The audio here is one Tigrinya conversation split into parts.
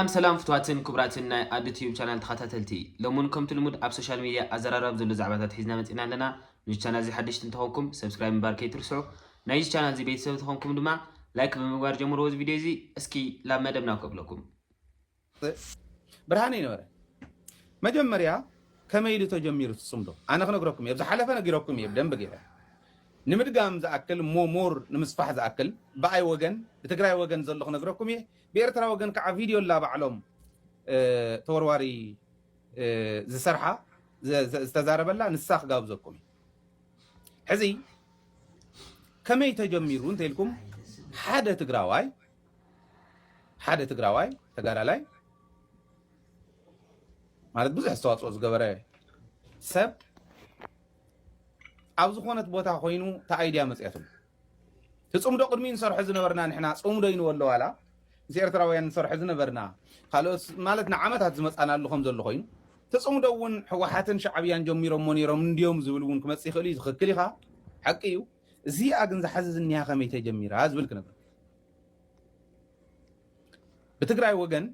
ሰላም ሰላም ፍትዋትን ክቡራትን ናይ ኣዱ ቲዩብ ቻናል ተኻታተልቲ ሎምውን ከምቲ ልሙድ ኣብ ሶሻል ሚድያ ኣዘራራቢ ዘሎ ዛዕባታት ሒዝና መጺእና ኣለና ንዚ ቻናል እዚ ሓደሽቲ እንተኾንኩም ሰብስክራይብ ምባር ከይትርስዑ ናይዚ ቻናል እዚ ቤተሰብ ተኾንኩም ድማ ላይክ ብምግባር ጀምርዎ እዚ ቪድዮ እዚ እስኪ ላብ መደብና ከብለኩም ብርሃነ ይነበረ መጀመርያ ከመይ ኢሉ ተጀሚሩ ትጽምዶ ኣነ ክነግረኩም እየ ዝሓለፈ ነጊረኩም እየ ብደንብ ገይረ ንምድጋም ዝኣክል ሞሞር ንምስፋሕ ዝኣክል ብኣይ ወገን ብትግራይ ወገን ዘሎ ክነግረኩም እየ ብኤርትራ ወገን ከዓ ቪድዮ ኣላ ባዕሎም ተወርዋሪ ዝሰርሓ ዝተዛረበላ ንሳ ክጋብዘኩም እዩ ሕዚ ከመይ ተጀሚሩ እንተኢልኩም ሓደ ትግራዋይ ሓደ ትግራዋይ ተጋዳላይ ማለት ብዙሕ ኣስተዋፅኦ ዝገበረ ሰብ ኣብ ዝኾነት ቦታ ኮይኑ ተኣይድያ መፅያትሉ ትጽምዶ ቅድሚኡ ንሰርሖ ዝነበርና ንሕና ጽምዶ ይንወሎ ዋላ ምስ ኤርትራውያን ንሰርሖ ዝነበርና ካልኦት ማለት ንዓመታት ዝመጻናሉ ከም ዘሎ ኮይኑ ትጽምዶ እውን ሕወሓትን ሻዕብያን ጀሚሮሞ ነይሮም እንድዮም ዝብል እውን ክመጽእ ይኽእል እዩ ዝኽክል ኢኻ ሓቂ እዩ እዚኣ ግን ዝሓዚ ዝኒሃ ከመይ ተጀሚራ ዝብል ክነግር ብትግራይ ወገን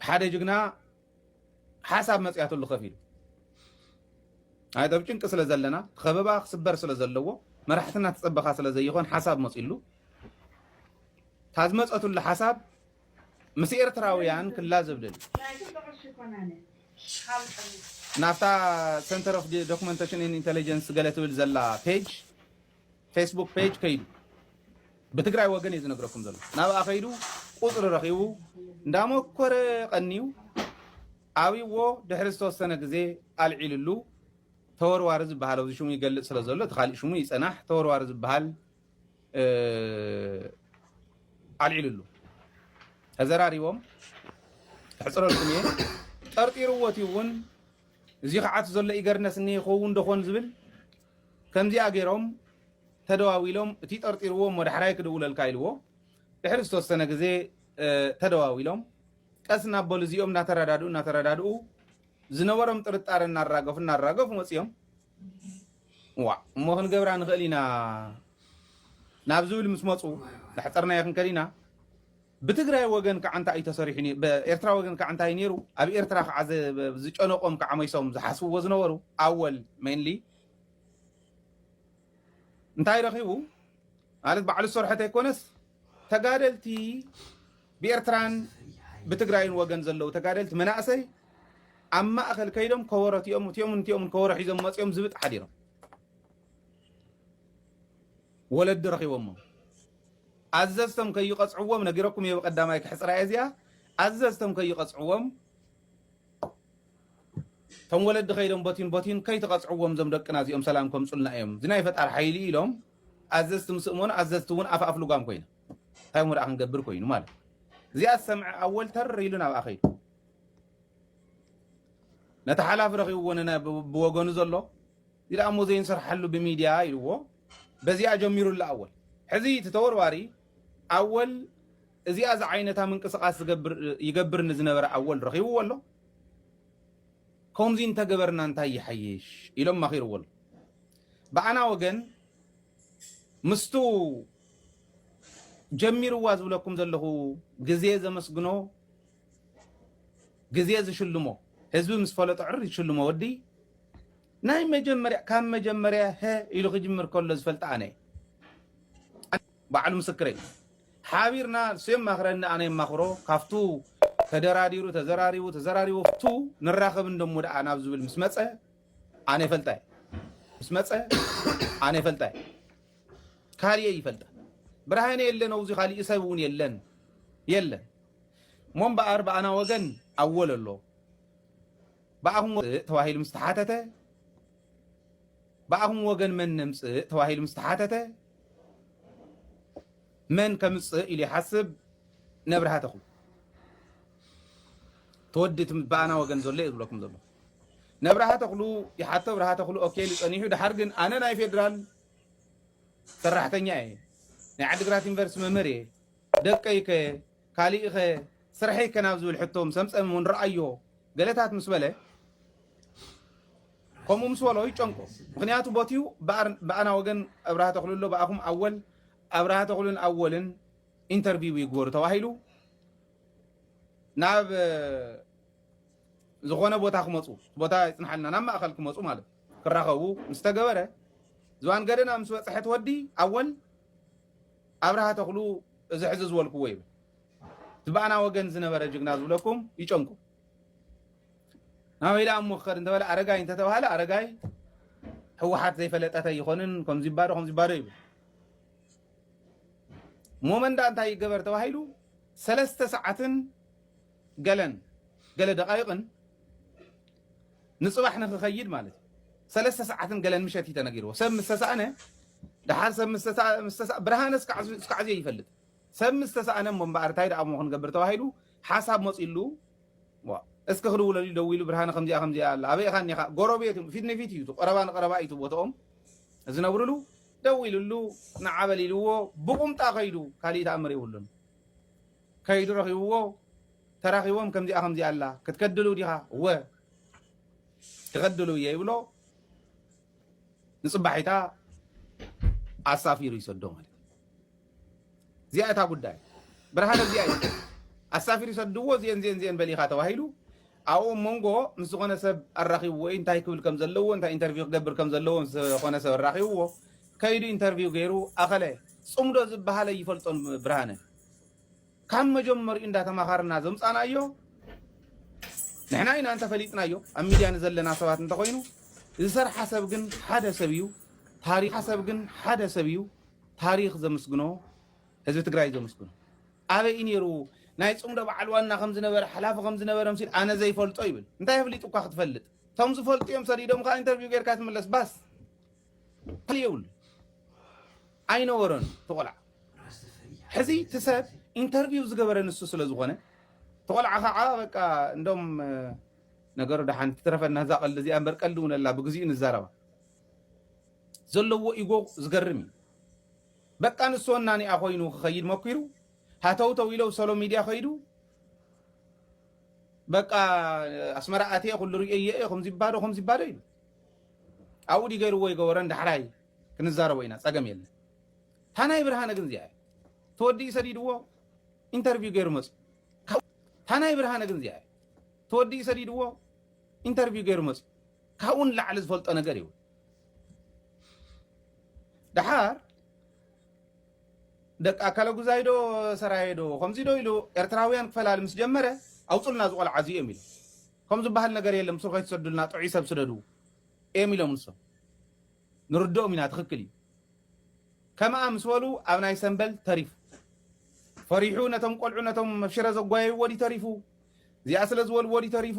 ሓደ ጅግና ሓሳብ መፅያትሉ ከፍ ኢሉ ኣይ ኣብ ጭንቂ ስለ ዘለና ከበባ ክስበር ስለ ዘለዎ መራሕትና ትፀበኻ ስለ ዘይኾን ሓሳብ መፅሉ እታ ዝመፀትሉ ሓሳብ ምስ ኤርትራውያን ክላ ዝብልል ናብታ ሰንተር ኦፍ ዶክመንቴሽን ኢንቴሊጀንስ ገለ ትብል ዘላ ፔጅ ፌስቡክ ፔጅ ከይዱ ብትግራይ ወገን እዩ ዝነግረኩም ዘሎ ናብኣ ከይዱ ቁፅሪ ረኺቡ እንዳሞኮረ ቀንዩ ኣብዎ ድሕሪ ዝተወሰነ ግዜ ኣልዒልሉ ተወርዋሪ ዝበሃል ኣብዚ ሽሙ ይገልፅ ስለ ዘሎ እቲ ካሊእ ሽሙ ይፀናሕ ተወርዋሪ ዝበሃል ኣልዒልሉ ተዘራሪቦም ሕፅረልኩም እየ ጠርጢርዎት እውን እዚ ከዓት ዘሎ ኢገርነስ እኒ ይኸውን ደኾን ዝብል ከምዚኣ ገይሮም ተደዋዊሎም እቲ ጠርጢርዎ እሞ ዳሕራይ ክድውለልካ ኢልዎ ድሕሪ ዝተወሰነ ግዜ ተደዋዊሎም ቀስ እናበሉ እዚኦም እናተረዳድኡ እናተረዳድኡ ዝነበሮም ጥርጣረ እናራገፉ እናራገፉ መፅኦም ዋ እሞ ክንገብራ ንኽእል ኢና ናብ ዝብል ምስ መፁ ዳሕፀርናዮ ክንከድ ኢና ብትግራይ ወገን ከዓ እንታይ እዩ ተሰሪሑ ኤርትራ ወገን ከዓ እንታይ ነይሩ ኣብ ኤርትራ ከዓ ዝጨነቆም ከዓ መይሶም ዝሓስብዎ ዝነበሩ ኣወል ሜንሊ እንታይ ረኺቡ ማለት ባዕሉ ዝሰርሖ ተይኮነስ ተጋደልቲ ብኤርትራን ብትግራይን ወገን ዘለዉ ተጋደልቲ መናእሰይ ኣብ ማእኸል ከይዶም ከበሮ እቲኦም እቲኦም እቲኦም ከበሮ ሒዞም መፂኦም ዝብጥ ሓዲሮም ወለዲ ረኺቦሞ ኣዘዝቶም ከይቐፅዕዎም ነጊረኩም እየ ብቀዳማይ ክሕፅራ እየ እዚኣ ኣዘዝቶም ከይቐፅዕዎም ቶም ወለዲ ከይዶም ቦቲን ቦቲን ከይትቐጽዕዎም እዞም ደቅና እዚኦም ሰላም ከምጹልና እዮም እዚ ናይ ፈጣሪ ሓይሊ እዩ ኢሎም ኣዘዝቲ ምስ እመኑ ኣዘዝቲ እውን ኣፍ ኣፍ ልጓም ኮይኖም እንታይ እሞ ደኣ ክንገብር ኮይኑ ማለት እዚኣ ዝሰምዐ ኣወል ተር ኢሉ ናብኣ ከይዱ ነቲ ሓላፊ ረኺብዎ ብወገኑ ዘሎ እዚ ደኣ እሞ ዘይንሰርሓሉ ብሚድያ ኢልዎ በዚኣ ጀሚሩላ ኣወል ሕዚ እቲ ተወርዋሪ ኣወል እዚኣ ዝዓይነታ ምንቅስቃስ ዝገብር ይገብር ንዝነበረ ኣወል ረኺብዎ ኣሎ ኮምዚ እንተገበርና እንታይ ይሓይሽ ኢሎም መኺርዎ ኣሎ ብኣና ወገን ምስቱ ጀሚርዋ ዝብለኩም ዘለኹ ግዜ ዘመስግኖ ግዜ ዝሽልሞ ህዝቢ ምስ ፈለጦ ዕር ዝሽልሞ ወዲ ናይ መጀመርያ ካብ መጀመርያ ሀ ኢሉ ክጅምር ከሎ ዝፈልጣ ኣነ ባዕሉ ምስክረይ እዩ ሓቢርና ንሱ የማኽረኒ ኣነ የማኽሮ ካብቱ ተደራዲሩ ተዘራሪቡ ተዘራሪቡ ኣብቱ ንራኸብ እንደሞ ደኣ ናብ ዝብል ምስ መፀ ኣነ ይፈልጣ እየ ምስ መፀ ኣነ ይፈልጣ እየ ካሊእ እየ ይፈልጣ ብርሃነ የለን ኣውዚ ካሊእ ሰብ እውን የለን የለን እሞ እምበኣር ብኣና ወገን ኣወል ኣሎ ብኣኹም ተባሂሉ ምስ ተሓተተ ብኣኹም ወገን መን ነምጽእ ተባሂሉ ምስ ተሓተተ መን ከምጽእ ኢሉ ይሓስብ ነብርሃ ተኽሉ ተወዲ ብኣና ወገን ዘሎ እዩ ዝብለኩም ዘሎ ነብርሃ ተኽሉ ይሓቶ ብርሃ ተኽሉ ኦኬ ኢሉ ጸኒሑ ድሓር ግን ኣነ ናይ ፌደራል ሰራሕተኛ እየ ናይ ዓዲግራት ዩኒቨርስቲ መምህር እየ ደቀይ ከ ካሊእኸ ስርሐይ ከ ናብ ዝብል ሕቶ ምስ ኣምፀ እም ንርኣዮ ገለታት ምስ በለ ከምኡ ምስ በሎ ይጨንቆ ምክንያቱ ቦትኡ ብኣና ወገን ኣብርሃ ተኽሉ ኣሎ ብኣኹም ኣወል ኣብርሃ ተኽሉን ኣወልን ኢንተርቪው ይግበሩ ተባሂሉ ናብ ዝኾነ ቦታ ክመፁ ቦታ ይፅንሓልና ናብ ማእኸል ክመፁ ማለት ክራኸቡ ምስ ተገበረ ዝባን ገደና ምስ በፅሐት ወዲ ኣወል ኣብርሃ ተኽሉ እዚ ሕዚ ዝበልክዎ ይብል እቲ ብኣና ወገን ዝነበረ ጅግና ዝብለኩም ይጨንቁ ናበይ ደኣ እሞ ክኸድ እንተበለ ኣረጋይ እንተተባህለ ኣረጋይ ሕወሓት ዘይፈለጠት ኣይኾንን ከምዚ ይባዶ ከምዚ ይባዶ ይብል ሞመንዳ እንታይ ይገበር ተባሂሉ ሰለስተ ሰዓትን ገለን ገለ ደቃይቕን ንጽባሕ ንኽኸይድ ማለት እዩ። ሰለስተ ሰዓትን ገለን ምሸት እዩ ተነጊርዎ። ሰብ ምስ ተሳእነ ደሓር ሰብ ምስ ተሳ- ምስ ተሳ- ብርሃነ እስካዕ እዚ- እስካዕ እዚ ይፈልጥ ሰብ ምስ ተሳእነ እሞ እምበኣር እንታይ ደኣ እሞ ክንገብር ተባሂሉ ሓሳብ መፂሉ ዋ፣ እስኪ ክድውለሉ እዩ ደዊሉ ብርሃነ ከምዚኣ ከምዚኣ ኣላ ኣበይ ኢኻ እኒኻ ጎረቤት እዮም ፊት ንፊት እዩ እቲ ቀረባ ንቀረባ እዩ እቲ ቦትኦም ዝነብርሉ ደዊልሉ ንዓበል ኢልዎ ብቑምጣ ከይዱ ካልእ ተኣምር የብሉን ከይዱ ረኺብዎ ተራኺቦም ከምዚኣ ከምዚኣ ኣላ ክትከድሉ ዲኻ እወ ክኸድሉ እየ ይብሎ ንፅባሒታ ኣሳፊሩ ይሰዶ ማለት እዚኣ እታ ጉዳይ ብርሃነ እዚኣ እዩ ኣሳፊሩ ይሰድዎ እዚአን እዚአን እዚአን በሊኻ ተባሂሉ ኣብኡ መንጎ ምስ ዝኾነ ሰብ ኣራኺቡ ወይ እንታይ ክብል ከም ዘለዎ እንታይ ኢንተርቪው ክገብር ከም ዘለዎ ምስ ዝኾነ ሰብ ኣራኺብዎ ከይዱ ኢንተርቪው ገይሩ ኣኸለ ፅምዶ ዝበሃለ ይፈልጦን ብርሃነ ካብ መጀመሪኡ እንዳ ተማኻርና ዘምጻናዮ ንሕና ኢና እንተ ፈሊጥናዮ ኣብ ሚድያ ንዘለና ሰባት እንተ ኮይኑ ዝሰርሓ ሰብ ግን ሓደ ሰብ እዩ ታሪኽ ሰብ ግን ሓደ ሰብ እዩ ታሪኽ ዘምስግኖ ህዝቢ ትግራይ ዘምስግኖ ኣበይ እዩ ነይሩ ናይ ጽምዶ በዓል ዋና ከም ዝነበረ ሓላፊ ከም ዝነበረ ምሲል ኣነ ዘይፈልጦ ይብል እንታይ ኣፍሊጡካ ክትፈልጥ እቶም ዝፈልጡ እዮም ሰዲዶም ከዓ ኢንተርቪው ጌርካ ትምለስ ባስ ካልእ የብሉን ኣይነበሮን እቲ ቆልዓ ሕዚ እቲ ሰብ ኢንተርቪው ዝገበረ ንሱ ስለ ዝኾነ እቲ ቆልዓ ከዓ በቃ እንዶም ነገሩ ደሓን ትትረፈና እዛ ቀልዲ እዚኣ እምበር ቀልዲ እውን ኣላ ብግዚኡ ንዛረባ ዘለዎ ኢጎ ዝገርም እዩ በቃ ንሱ ወናኒኣ ኮይኑ ክኸይድ መኪሩ ሃተውተው ኢለው ሰሎ ሚድያ ከይዱ በቃ ኣስመራ ኣትየ ኩሉ ርእየ እየ ከምዚ ባዶ ከምዚ ባዶ ኢሉ ኣብኡ ድዩ ገይርዎ ኣይገበሮን ዳሕራይ ክንዛረቦ ኢና ፀገም የለን እታ ናይ ብርሃነ ግን እዚኣ ተወዲኡ ሰዲድዎ ኢንተርቪው ገይሩ መፁ እታ ናይ ብርሃነ ግን እዚኣ ተወዲኡ ሰዲድዎ ኢንተርቪው ገይሩ መፁ ካብኡ ንላዕሊ ዝፈልጦ ነገር ይብል ድሓር ደቂ ኣካለ ጉዛይ ዶ ሰራየ ዶ ከምዚ ዶ ኢሉ ኤርትራውያን ክፈላሊ ምስ ጀመረ ኣውፅልና ዝቆልዓ እዚኦም ኢሉ ከምኡ ዝባሃል ነገር የለን ምስሩ ከይትሰዱልና ጥዑይ ሰብ ስደዱ ኤም ኢሎም ንሶም ንርድኦም ኢና ትክክል እዩ ከምኣ ምስ በሉ ኣብ ናይ ሰንበል ተሪፉ ፈሪሑ ነቶም ቆልዑ ነቶም መብሽረ ዘጓየይዎ ድዩ ተሪፉ እዚኣ ስለ ዝበልዎ ድዩ ተሪፉ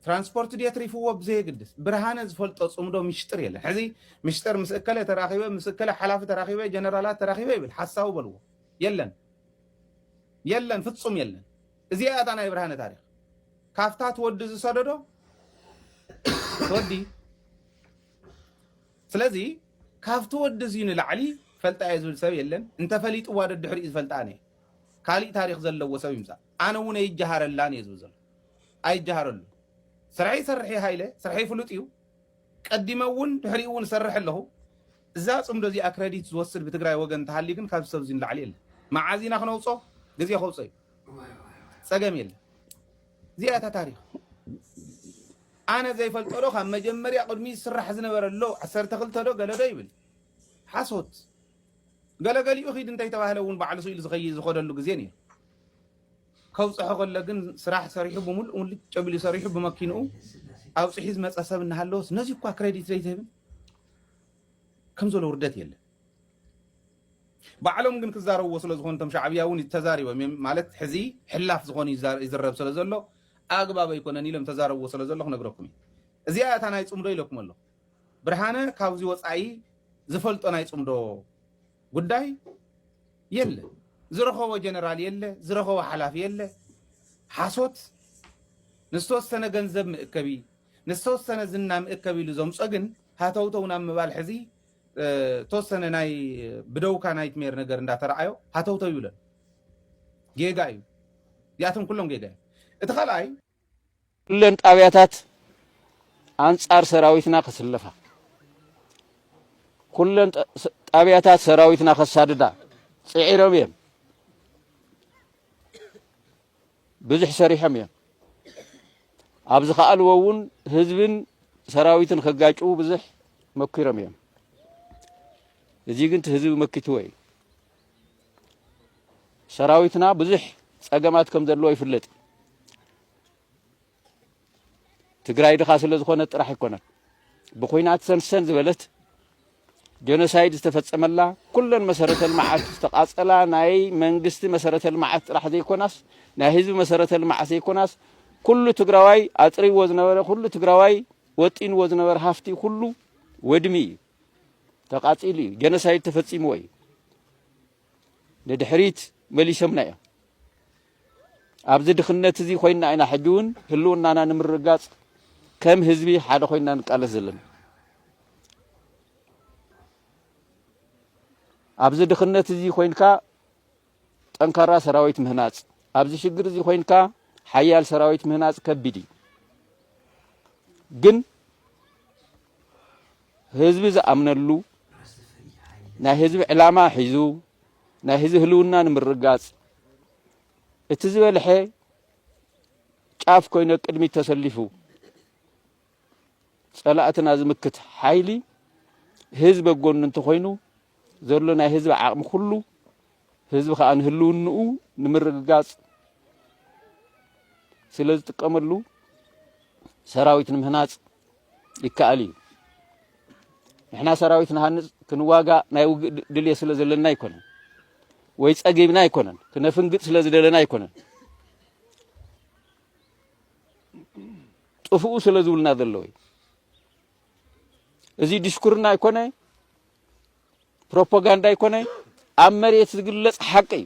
ትራንስፖርት ድየ ትሪፍዎ ብዘየግድስ ብርሃነ ዝፈልጦ ፅምዶ ምሽጥር የለን ሕዚ ምሽጥር ምስ እከለ ተራኺበ ምስ እከለ ሓላፊ ተራኺበ ጀነራላት ተራኺበ ይብል ሓሳዊ በልዎ የለን የለን ፍፁም የለን እዚኣ እያ እታ ናይ ብርሃነ ታሪክ ካብታ ትወዲ ዝሰደዶ ትወዲ ስለዚ ካብቲ ወዲ እዚ ንላዕሊ ፈልጣ እየ ዝብል ሰብ የለን እንተፈሊጥዋ ደድሕሪኡ ዝፈልጣ እየ ካሊእ ታሪክ ዘለዎ ሰብ ይምፃእ ኣነ እውን ኣይጀሃረላን እየ ዝብል ዘሎ ኣይጀሃረሉ ስርሐይ ይሰርሕ ሃይለ ስርሐይ ፍሉጥ እዩ ቀዲመ እውን ድሕሪኡ እውን ሰርሕ ኣለኹ እዛ ፅምዶ እዚኣ ክረዲት ዝወስድ ብትግራይ ወገን እንተሃልዩ ግን ካብ ሰብ እዚ ንላዕሊ የለን መዓዝ ኢና ክነውፆ ግዜ ከውፆ እዩ ጸገም የለን እዚኣ እታ ታሪኽ ኣነ ዘይፈልጦ ዶ ካብ መጀመርያ ቅድሚ ዝስራሕ ዝነበረ ኣሎ ዓሰርተ ክልተ ዶ ገለ ዶ ይብል ሓሶት ገለገሊኡ ኺድ እንተይተባህለ እውን ባዕሉ ስኢሉ ዝኸይ ዝኸደሉ ግዜ ነይሩ ከውፅሖ ከሎ ግን ስራሕ ሰሪሑ ብምሉእ ምሉእ ጨቢሉ ሰሪሑ ብመኪንኡ ኣውፅሒ ዝመፀ ሰብ እናሃለወስ ነዚ እኳ ክሬዲት ዘይትህብን ከም ዘሎ ውርደት የለን ባዕሎም ግን ክዛረብዎ ስለ ዝኾኑ እቶም ሻዕብያ እውን ተዛሪቦም እዮም ማለት ሕዚ ሕላፍ ዝኾኑ ይዝረብ ስለ ዘሎ ኣግባብ ኣይኮነን ኢሎም ተዛረብዎ ስለ ዘሎ ክነግረኩም እዩ እዚኣ እያ እታ ናይ ፅምዶ ኢለኩም ኣሎ ብርሃነ ካብዚ ወፃኢ ዝፈልጦ ናይ ፅምዶ ጉዳይ የለ ዝረኸቦ ጀነራል የለ ዝረኸቦ ሓላፊ የለ ሓሶት ንዝተወሰነ ገንዘብ ምእከቢ ንዝተወሰነ ዝና ምእከቢ ኢሉ ዘምፆ ግን ሃተውተው ናብ ምባል ሕዚ ተወሰነ ናይ ብደውካ ናይትሜር ነገር እንዳተረኣዮ ሃተውተው ይብለን ጌጋ እዩ ያቶም ኩሎም ጌጋ እዩ እቲ ካልኣይ ኩለን ጣብያታት ኣንጻር ሰራዊትና ክስለፋ ኩለን ጣብያታት ሰራዊትና ከሳድዳ ፅዒሮም እዮም። ብዙሕ ሰሪሖም እዮም። ኣብ ዝኸኣልዎ እውን ህዝብን ሰራዊትን ከጋጭዉ ብዙሕ መኪሮም እዮም። እዚ ግን እቲ ህዝቢ መኪትዎ እዩ። ሰራዊትና ብዙሕ ፀገማት ከም ዘለዎ ይፍለጥ እዩ። ትግራይ ድኻ ስለ ዝኾነት ጥራሕ ኣይኮነን ብኩናት ሰንሰን ዝበለት ጀኖሳይድ ዝተፈጸመላ ኩለን መሰረተ ልምዓት ዝተቃጸላ ናይ መንግስቲ መሰረተ ልምዓት ጥራሕ ዘይኮናስ ናይ ህዝቢ መሰረተ ልምዓት ዘይኮናስ ኩሉ ትግራዋይ ኣጥሪዎ ዝነበረ ኩሉ ትግራዋይ ወጢንዎ ዝነበረ ሃፍቲ ኩሉ ወድሚ እዩ ተቃጺሉ እዩ ጀኖሳይድ ተፈጺምዎ እዩ ንድሕሪት መሊሶምና እዮም። ኣብዚ ድኽነት እዚ ኮይና ኢና ሕጂ እውን ህልውናና ንምርግጋፅ ከም ህዝቢ ሓደ ኮይና ንቃለስ ዘለና። ኣብዚ ድኽነት እዚ ኮይንካ ጠንካራ ሰራዊት ምህናፅ፣ ኣብዚ ሽግር እዚ ኮይንካ ሓያል ሰራዊት ምህናፅ ከቢድ እዩ ግን ህዝቢ ዝኣምነሉ ናይ ህዝቢ ዕላማ ሒዙ ናይ ህዝቢ ህልውና ንምርጋፅ እቲ ዝበልሐ ጫፍ ኮይነ ቅድሚት ተሰሊፉ ፀላእትና ዝምክት ሓይሊ ህዝቢ ጎኑ እንተኮይኑ ዘሎ ናይ ህዝቢ ዓቕሚ ኩሉ ህዝቢ ከዓ ንህልውንኡ ንምርግጋፅ ስለ ዝጥቀመሉ ሰራዊት ንምህናፅ ይከኣል እዩ። ንሕና ሰራዊት ንሃንጽ ክንዋጋእ ናይ ውግእ ድልየ ስለ ዘለና ኣይኮነን ወይ ጸጊብና ኣይኮነን ክነፍንግጥ ስለ ዝደለና ኣይኮነን ጥፍኡ ስለ ዝብልና ዘለዎ እዩ እዚ ድሽኩርና ኣይኮነ ፕሮፓጋንዳ ኣይኮነ ኣብ መሬት ዝግለጽ ሓቂ እዩ